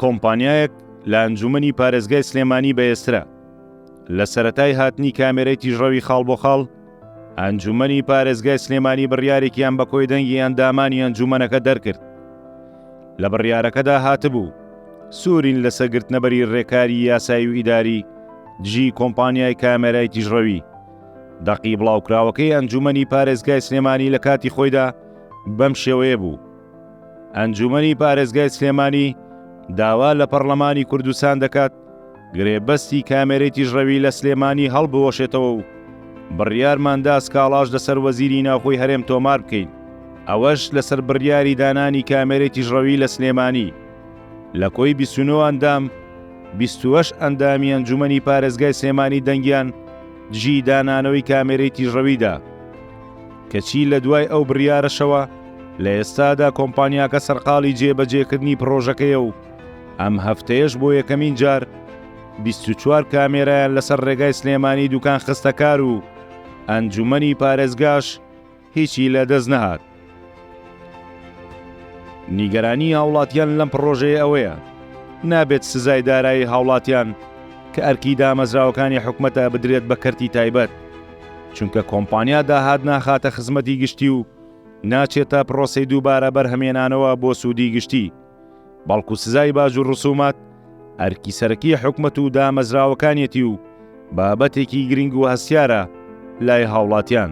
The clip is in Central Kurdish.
کۆمپانیایەک لە ئەنجومەنی پارێزگای سلێمانی بەێسترا لە سەتای هاتنی کامێرەی تیژڕەوی خاڵ بۆ خاڵ ئەنجومەنی پارێزگای سلێمانی بڕیارێکیان بە کۆی دەنگی ئەندامانی ئەنجومەنەکە دەرکرد لە بڕیارەکەدا هاتبوو سوورین لە سەگرتنەبەری ڕێکاری یاسایی و ئیداری دژی کۆمپانیای کامێرای تیژڕەوی دەقی بڵاوکراوەکەی ئەنجومەنی پارێزگای سلێمانی لە کاتی خۆیدا بەم شێوەیە بوو ئەنجومەنی پارێزگای سلێمانی داوا لە پەڕلەمانی کوردستان دەکات گرێبەستی کامێرەی تیژڕەوی لە سلێمانی هەڵبوەشێتەوە و بڕیارماندا سکاڵاش لەسەر وەزیری ناوخۆی هەرێم تۆمار بکەین ئەوەش لەسەر بڕیاری دانانی کامێرەی تیژڕەوی لە سلێمانی لە کۆی 29 ئەندام 28 ئەندامی ئەنجومەنی پارێزگای سلێمانی دەنگیان دژی دانانەوەی کامێرەی تیژڕەویدا کەچی لە دوای ئەو بڕیارەشەوە لە ئێستادا کۆمپانیاکە سەرقاڵی جێبەجێکردنی پڕۆژەکەیە و ئەم هەفتەیەش بۆ یەکەمین جار 24 کامێرایان لەسەر ڕێگای سلێمانی دوکان خستەکار و ئەنجومەنی پارێزگاش هیچی لە دەست نەهات. نیگەرانی هاوڵاتیان لەم پڕۆژەیە ئەوەیە نابێت سزای دارایی هاوڵاتیان کە ئەرکی دامەزراوەکانی حکومەتە بدرێت بە کەرتی تایبەت چونکە کۆمپانیا داهات ناخاتە خزمەتی گشتی و ناچێتە پرۆسی دووبارە بەرهەمێنانەوە بۆ سوودی گشتی بەڵکو سزای باج و ڕسومات ئەرکی سەرەکی حکومت و دامەزراوەکانیەتی و بابەتێکی گرنگ و هەستیارە لای هاوڵاتیان.